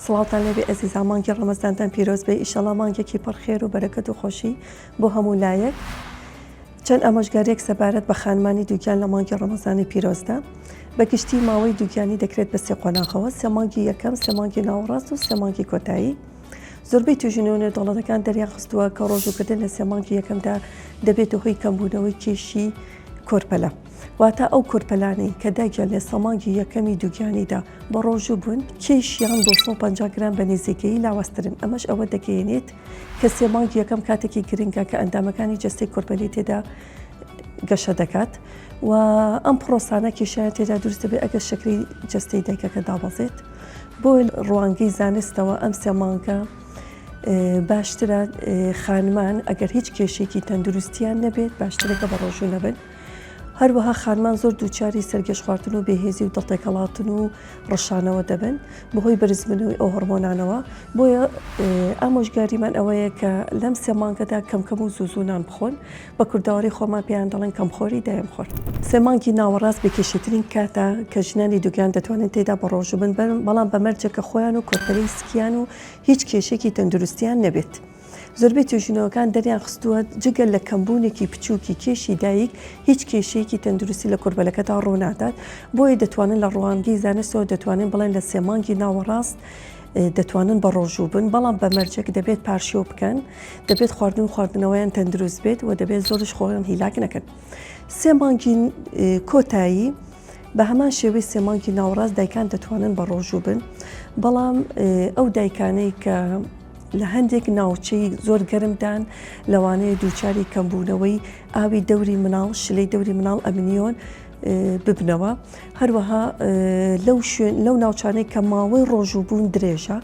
سڵاوتان لێبێ ئەزیزان مانگی ڕەمەزانتان پیرۆز بێ ئیشەڵا مانگێکی پڕ خێر و بەرەکەت و خۆشی بۆ هەموو لایەک چەند ئامۆژگاریەک سەبارەت بە خانمانی دووگیان لە مانگی ڕەمەزانی پیرۆزدا بەگشتی ماوەی دووگیانی دەکرێت بە سێ قۆناغەوە سێ مانگی یەکەم سێ مانگی ناوەڕاست و سێ مانگی کۆتایی زۆربەی توژنەوە نێودەوڵەتەکان دەریان خستووە کە ڕۆژووکردن لە سێمانگی یەکەمدا دەبێتە هۆی کەمبوونەوەی کێشی کۆرپەلە، واتە ئەو کۆرپەلانەی کە دایکیان لە سەماگی یەکەمی دووگیانیدا بەڕۆژوو بوون، کێشیان بۆ سەد و پەنجا گرام بە نێزیکەیی لاوازترن، ئەمەش ئەوە دەگەیەنێت کە سێ مانگی یەکەم کاتێکی گرنگە کە ئەندامەکانی جەستەی کۆرپەلەی تێدا گەشە دەکات و ئەم پڕۆسانە کێشیان تێدا دروست دەبێت ئەگەر شەکرەی جەستەی دایکەکە دابەزێت. بۆ ڕوانگەی زانستەوە ئەم سێ مانگە باشترە خانمان ئەگەر هیچ کێشێکی تەندروستیان نەبێت باشترەکە بە ڕۆژوو نەبن هەروەها خانمان زۆر دووچاری سەرگەش خواردن و بێهێزی و دڵتێکەڵاتن و ڕشانەوە دەبن بەهۆی بەرزمنوی ئەو هەرمۆنانەوە بۆیە ئامۆژگاریمان ئەوەیە کە لەم سێمانگەدا کەمکەم و زوزوونان بخۆن بە کوردەواریی خۆمان پێیان دەڵێن کەمخۆری دایم خۆر. سێ مانگی ناوەڕاست بێکێشەترین کاتە کە ژنانی دووگیان دەتوانن تێیدا بەڕۆژوو بن، بەڵام بە مەرجێک کە خۆیان و کۆرپەلەی سکیان و هیچ کێشەیەکی تەندروستییان نەبێت. زۆربەی توێژینەوەکان دەریانخستووە جگە لە کەمبوونێکی بچووکی کێشی دایک، هیچ کێشەیەکی تەندروستی لە کۆرپەلەکەدا ڕوونادات، بۆیە دەتوانن لە ڕوانگەی زانستەوە دەتوانین بڵێن لە سێ مانگی ناوەڕاست، دەتوانن بەڕۆژوو بن بەڵام بە مەرجێک دەبێت پارشێو بکەن دەبێت خواردن خواردنەوەیان تەندروست بێت و دەبێت زۆرش خۆیان هیلاک نەکەن سێ مانگی کۆتایی بە هەمان شێوەی سێمانکی ناوڕاست دایکان دەتوانن بە ڕۆژوو بن بەڵام ئەو دایکانەی کە لە هەندێک ناوچەی زۆر گەرمدان لەوانەیە دووچاری کەمبوونەوەی ئاوی دەوری مناڵ شلەی دەوری مناڵ ئەمنیۆن ببنەوە، هەروەها لەو ناوچانەی کە ماوەی ڕۆژووبوون درێژە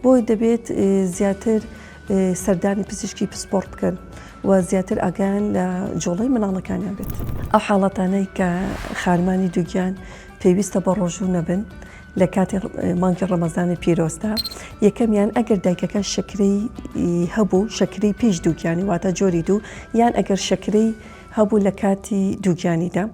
بۆی دەبێت زیاتر سەردانی پزیشکی پسپۆرت بکەن و زیاتر ئاگیان لە جۆڵی مناڵەکانیان بێت ئەو حاڵەتانەی کە خانمانی دووگیان پێویستە بە ڕۆژوو نەبن لە کاتی مانگی ڕەمەزانی پیرۆستا یەکەمیان ئەگەر دایکەکە شکری هەبوو شکری پیش دووگیانی واتە جۆری دوو یان ئەگەر شکری هەبوو لە کاتی دووگیانیدا،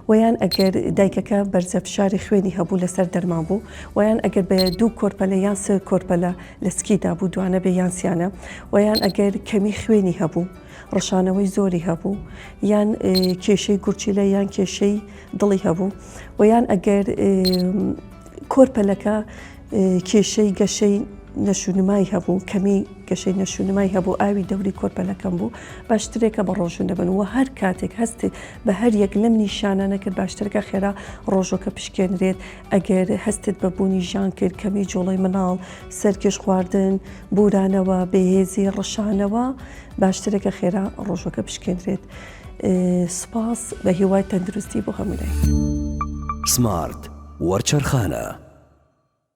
وە یان ئەگەر دایکەکە بەرزە فشاری خوێنی هەبوو لەسەر دەرمان بوو، وە یان ئەگەر بە دوو کۆرپەلە یان سێ کۆرپەلە لە سکی دابوو دوانە بێ یان سیانە، وە یان ئەگەر کەمی خوێنی هەبوو ڕشانەوەی زۆری هەبوو، یان کێشەی گورچیلە یان کێشەی دڵی هەبوو، وە یان ئەگەر کۆرپەلەکە کێشەی گەشەی نەشونمای هەبوو کەمی گەشەی نەشونمای هەبوو ئاوی دەوری کۆرپەلەکەم بوو باشترێکە بە ڕۆژن دەبن و هەر کاتێک هەستێت بە هەر یەک لەم نیشانانە کرد باشترەکە خێرا ڕۆژۆکە پشکێنرێت ئەگەر هەستێت بە بوونی ژان کرد کەمی جۆڵی مناڵ سەرکێش خواردن بورانەوە بەهێزی ڕشانەوە باشترەکە خێرا ڕۆژۆکە پشکێنرێت. سپاس بە هیوای تەندروستی بۆ هەموولای. سمارت وەرچەرخانە.